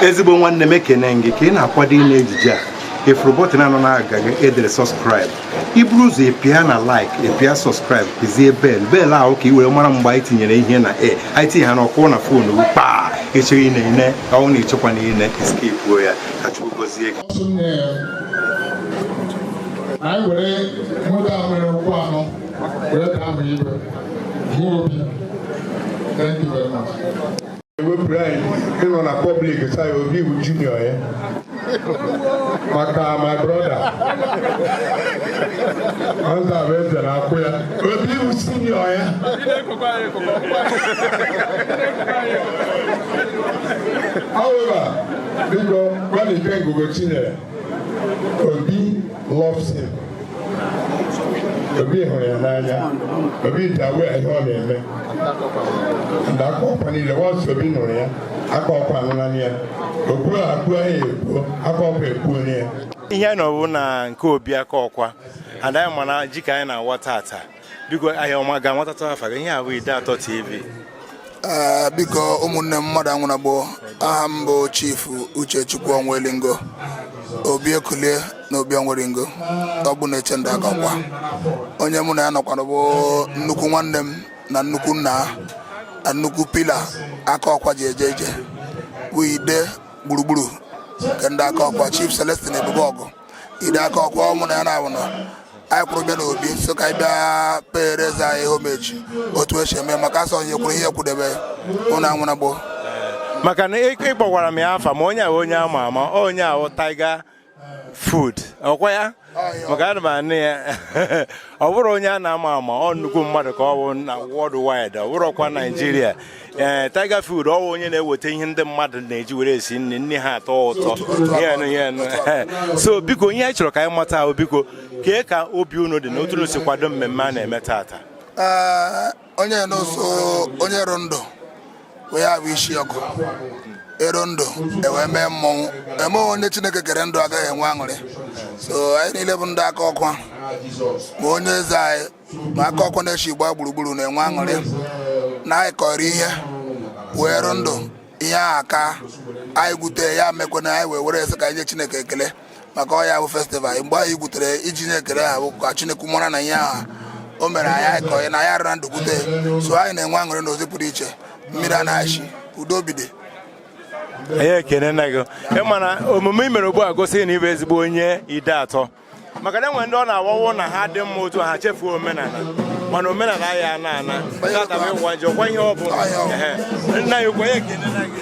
ezigbo nwanne m ekene m gị ka ị na-akwado ine ejije a ị fụrụ bọtịn a nọ n'agịga e dere subscribe i buru ụzọ pịa na like ị pịa subscribe pịzie bell bell ahụ ka ị were mara mgbe anyị tinyere ihe na e anyị tinye ya ọ kụọ na fonu gị kpaa ị chọọ ine i nee ọ wụ na ịchekwa na ine i skipuo ya ka chukwu gozie gị anyị were nweta nwere ụkwụ anọ ewepụrụ anyị ịnọ na public say obi bụ junior ya maka my brother ọzọ a bụ eze na akokwa obi bụ senior ya however biko gbalite ngụgụ chinyere obi loves him obi hụrụ ya n'anya obi dị aware ihe ọ na-eme ndị akokwa niile once obi nụrụ ya akokwa anụnanị ya okwu a akpụ ya ekpuo akokwa ekpuona ya ihe anyị nọ bụ na nke obi akokwa and anyị ma na ji ka anyị na-awa taata biko anyị ga-amatata afa gị ihe a bụ ideato tv ah, biko ụmụnne m mmadụ anwụna gboo aha m bụ chief uchechukwu onwelingo obi ekulie na obi onwelingo ọgbụ na-eche ndo akokwa onye mụ na ya nọkwara bụ nnukwu nwanne m na nnukwu nna na nnukwu pillar akokwa ji eje ije bụ ide gburugburu nke ndị akokwa chief celestine ebubeogu ide akokwa ọ wụ na ya na ọ wụ na anyị kwụrụ bịa n'obi so ka anyị bịa pere eze anyị homage otu e si eme maka a sị onye kwuru ihe kwudebe unu anwụna gboo maka na ị kpọkwara m ya afa ma onye a wụ onye ama ama onye a wụ tiger food ọkwa ya maka ana m anụ ya ọ bụrụ onye a na-ama ama ọ nnukwu mmadụ ka ọ bụ na world wide ọ bụrụkwa nigeria ee eh, Tiger Food ọ wụ onye na-eweta ihe ndị mmadụ na-eji were esi nri nri ha atọ ụtọ so biko ihe anyị chọrọ ka anyị mata ahụ biko kee ka obi unu dị na otu unu si kwado mmemme a na-eme taata eh, onye n'ụsọ onye rụ ndụ wee ya bụ isi ọkụ ero ndụ ewee mee mmemme onye chineke kere ndụ agaghị enwe aṅụrị so anyị niile bụ ndị akokwa ma onye eze anyị ma akokwa n'ishi gbaa gburugburu na-enwe aṅụrị na anyị kọrọ ihe wee rụ ndụ ihe a ka anyị gwute ya mekwe na anyị wee were sị ka anyị nye chineke ekele maka ọ ya bụ festival mgbe anyị gwutere ji nye ekele ahụ ka chineke mara na ihe ahụ o mere anyị anyị kọrọ na anyị arịra ndụ gwute so anyị na-enwe aṅụrị n'ụzọ pụrụ iche mmiri a na-achị udo bide anyị ekenena gị ịma na omume i mere ugbu a gosi na ị bụ ezigbo onye ideato maka na enwere ndị ọ na-awawo na ha dị mma otu ha chefuo omenala mana omenala ya ana ana tata bụ ịwa njọ kwa ihe ọ bụla nna ya okwenye ekele na gị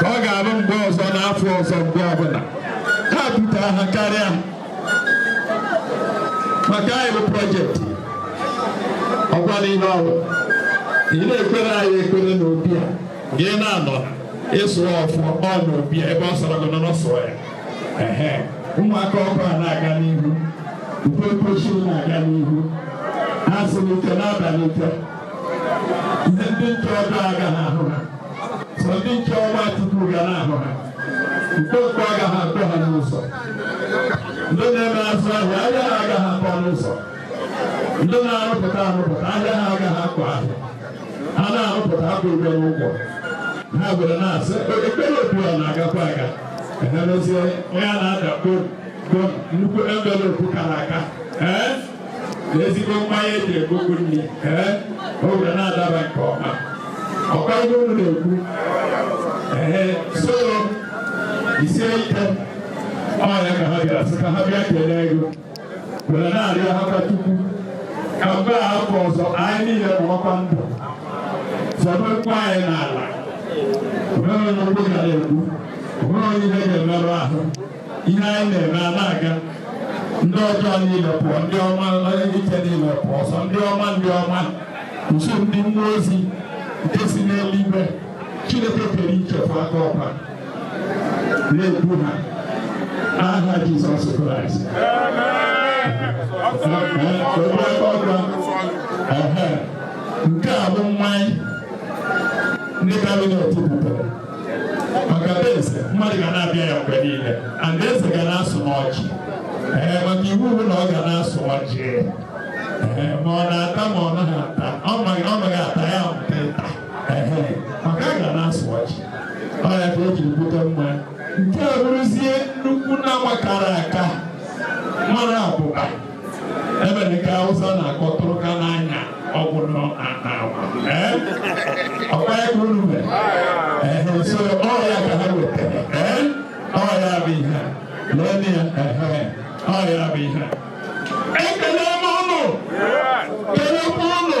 ka ọ ga-abụ mgbe ọzọ n'afọ ọzọ mgbe ọbụla ha pụtara ha karịa maka anyị bụ project ọgwala ihe ọrụ ị na-ekpere anyị ekpere n'obi a gị na-anọ ịsụ ọfụ ọ n'obi ebe ọ sọrọ gị nọ n'ọsọ ya ụmụaka ọkụ a na-aga n'ihu uwe mpochi na-aga n'ihu ha sị n'ike n'abalị ike ndị ntọrị agaghị ahụ ha sọ ndị nche ọma tupu ga na-ahụ ha mkpokpo agaghị akpọ ha n'ụzọ ndị na-eme azụ ahịa ahịa ha agaghị akpọ n'ụzọ ndị na-arụpụta arụpụta ahịa ha agaghị akpọ ahịa ha na-arụpụta akpụ ụgwọ n'ụgwọ ha were na-asị ekpere otu a na-agakwa aga emezie onye a na-ada kpom kpom nnukwu envelope kara aka ee ezigbo mmanya eji egogo nri ee o were na-adaba nke ọma ọkwa ihe unu na-ekwu ee so isie ike ọ ya ka ha bịara sị ka ha bịa kelee ego were na-arịọ ha ka chukwu ka mgbe a afọ ọzọ anyị niile nọrọkwa ndụ fọdụkwa anyị n'ala onweghị onye mgbu ga na-egbu onweghị onye ihe ga-emerụ ahụ ihe anyị na-eme a na-aga ndị ọjọọ niile pụọ ndị ome n'ike niile pụọ ọsọ ndị ọma ndị ọma nso ndị mmụọ ozi nke si n'eluigwe chineke kere ichefu aka ọkwa na-ekwu ha n'aha jizọs kraịst nke a bụ mmanya ndị cabinet butere maka be eze mmadụ ga na-abịa ya mgbe niile and eze ga na-asụ n'ọjị ee maka iwu bụ na ọ ga na-asụ ọjị ee ma ọ na-ata ma ọ naghị ata ọ maghị ọ maghị ata ya mpe nta ee maka a ga na-asụ ọjị ọ ya ka o jiri bute mma nke a bụrụzie nnukwu na-agbakara aka mara abụba ebe dị ka Hausa na-akpọ tụrụka n'anya ọgwụ nọ na agwa ee ọkwa ya ka unu mere ee so ọ ya ka ha wetara ee ọ ya bụ ihe a lọnị ya ee ọ ya bụ ihe a ekele m ụnụ kelekwa ụnụ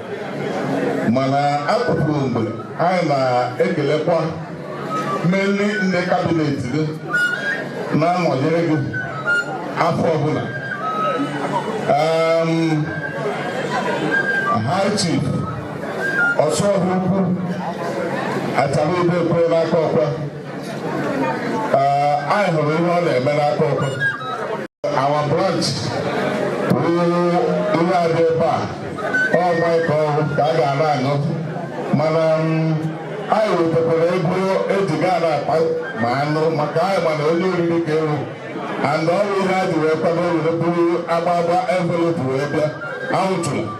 mana atụpụrụ mgbe anyị na-ekelekwa mmeri ndị kabinet gị na-anọnyere gị afọ ọbụla high chief Osuoha ukwu atara ebe ekwe n'Akokwa anyị hụrụ ihe ọ na-eme n'Akokwa our branch ruo ihe adị ebe a ọgwa ka ọhụụ ka a ga-ana aṅụ mana mm, anyị wetakwara ego e ji ga na akpa ma anụ maka anyị ma na onye oriri ka ewu and ọ ya ihe a ji wee kwado were buru agbagba envelopu wee bịa anwụtụrụ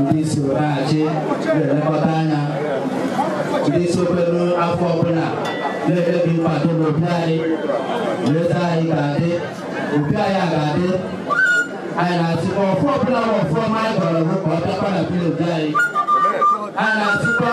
ndị so na-achị na-elekọta anya ndị sokwere afọ ọbụla na-emebi mkpado n'obi anyị leta anyị ga-adị obi anyị a ga-adị anyị na-asịkwa afọ ọbụla bụ afọ ọma anyị gwara gị ka ọ bịakwa na vileji anyị anyị na-asịkwa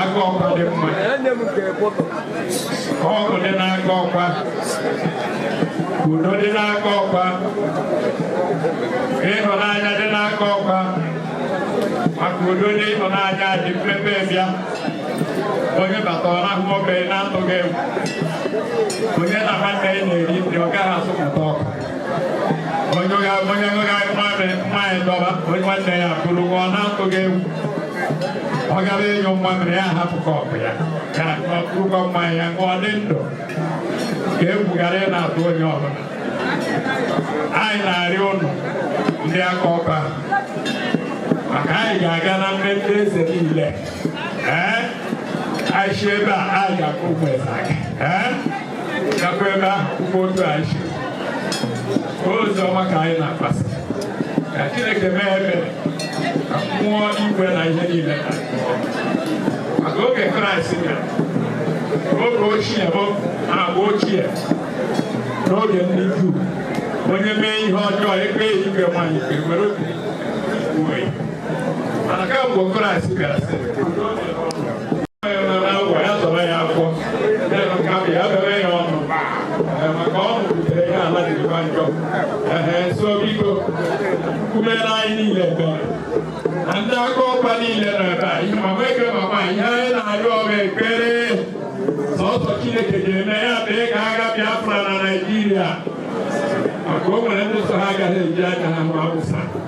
Akokwa dị mma. Ọṅụ dị n'Akokwa. Udo dị n'Akokwa. Ịhụnanya dị n'Akokwa. Maka udo na ịhụnanya ji mmepe bịa. Onye bata ọ na-ahụ nwoke na-atụghị egwu. Onye na nwanne ya na-eri nri ọ gaghị asị mụta ọkụ. onye ga-aṅụ mmanya dọba onye nwanne ya buru ṅụọ na-atụghị egwu ọ gara ịnyụ mmamịrị ya hapụ kọpụ ya ka ọ kụrụkwa mmanya ya ṅụọ dị ndụ ka egwu ghara ị na-atụ onye ọbụla anyị na-arịọ ụnụ ndị Akokwa maka anyị ga-aga na mmemme eze niile ee anyị si ebe a anyị gaa Akwu Umuezeaga ee gakwa ebe ahụ kwukwa otu anyị si ozi ọma ka anyị na-agbasa ka Chineke mee ebere ka mmụọ igwe na ihe niile na maka oge Kraịst bịara oge ochie bụ agba ochie n'oge ndị Juu onye mee ihe ọjọọ e kpee ya ikpe maa ya ikpe were okwute mana kamgbe kraịst bịara sị agwa ya zọrọ ya afọ ya bere ya ọnụ maka ọ mụpụtara ya ala dịkwa njọ ehe so biko kumere anyị niile ebe na ndị Akokwa niile nọ ebe a ihe ma nweke mama ihe anyị na-arịọ bụ ekpere sọsọ chineke ga-eme ya mee ka agha biafra na naijiria maka o nwere ndị sị ha agaghị eji anya ahụ awụsa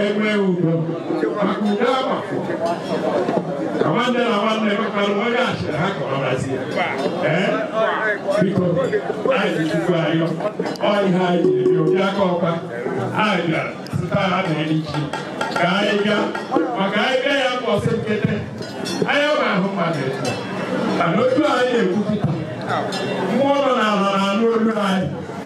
enwe udo maka udo agbafọ ka nwanne na nwanne mekpara onye achịrị ha ka ọ razi ya ee biko anyị jikwa ayọ ọ ihe anyị jiri bịa ndị Akokwa anyị bịara site ha na echi ka anyị gaa maka anyị bịa ya bụ ọsọ nkete anyị ma ahụ mmadụ etu mana otu anyị na-ekwu kịta mmụọ nọ n'ala na-anụ olu anyị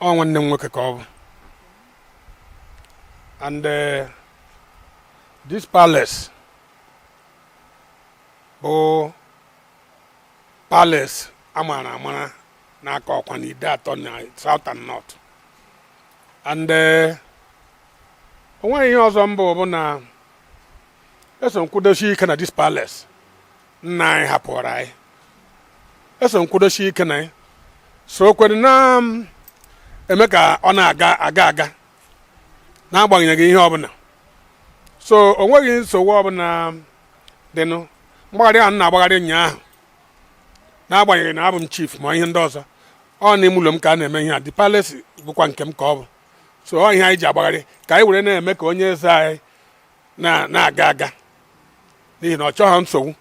ọ nwanne m nwoke ka ọ bụ and uh, this palace bụ palace a mara amara n'Akokwa na Ideato na south and north and uh, o nweghị ihe ọzọ mbụ bụ na eso m kwudosi ike na this palace nna anyị hapụrụ anyị eso m kwudosi ike na ya so ka e were na um, eme ka ọ na-aga aga aga n'agbanyeghị ihe ọbụla so o nweghị nsogbu ọbụla um, dịnụ mgbagharị ahụ m na-agbagharị ụnyaahụ n'agbanyeghị na abụ m chief ma ihe ndị ọzọ ọ n'ime ụlọ m ka a na-eme ihe a the palace bụkwa nke m ka ọ bụ so ọ ihe anyị ji agbagharị ka anyị were na-eme ka onye eze anyị na-aga aga n'ihi na ọ chọghị nsogbu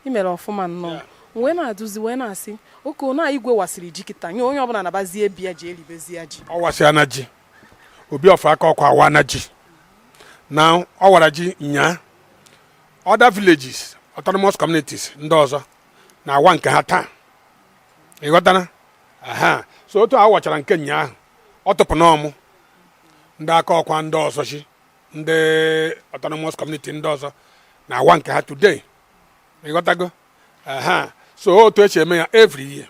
i mere ọfụma nnọọ wee na-adụzi wee na-asị okay na igwe wasịrị ji kịta nye onye ọbụla nabazie be ya ji eribezi ya ji ọ wasịana ji obi of Akokwa awana ji na ọ wara ji nyaa other villages autonomous communities ndị ọzọ na-awa nke ha taa ịghọtara aha so otu a wachara nke nyaa ọ tụpụ n'ọmụ ndị Akokwa ndị ọzọzị ndị autonomous community ndị ọzọ na-awa nke ha today ịghọtago aha so otu e si eme ya every year